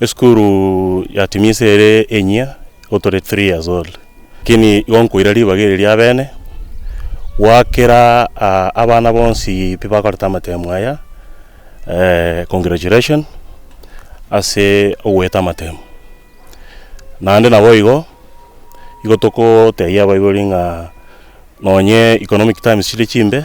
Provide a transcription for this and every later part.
Esukuru ya Timisi ere enyia igo tore three years old, lakini igo nkoira ribaga eri riabene, gwakera abana bonsi tibakorete amatemu aya, congratulations ase ogoeta amatemu. Naende naboigo, igo togotebia abaibori ng'a nonye economic times chire chimbe.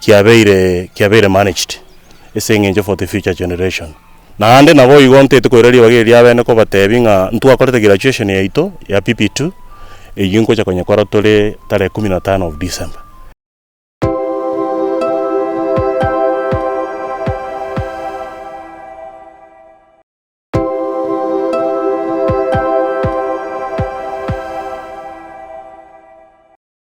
kiabeire kiabeire managed ase eng'encho for the future generation. Naende naboigo ntaete koira ribaga eri ri'abene kobatebi ng'a ntwakorete graduation yaito ya PP2 eyio nkocha konyekora tore tarehe kumi na tano of December.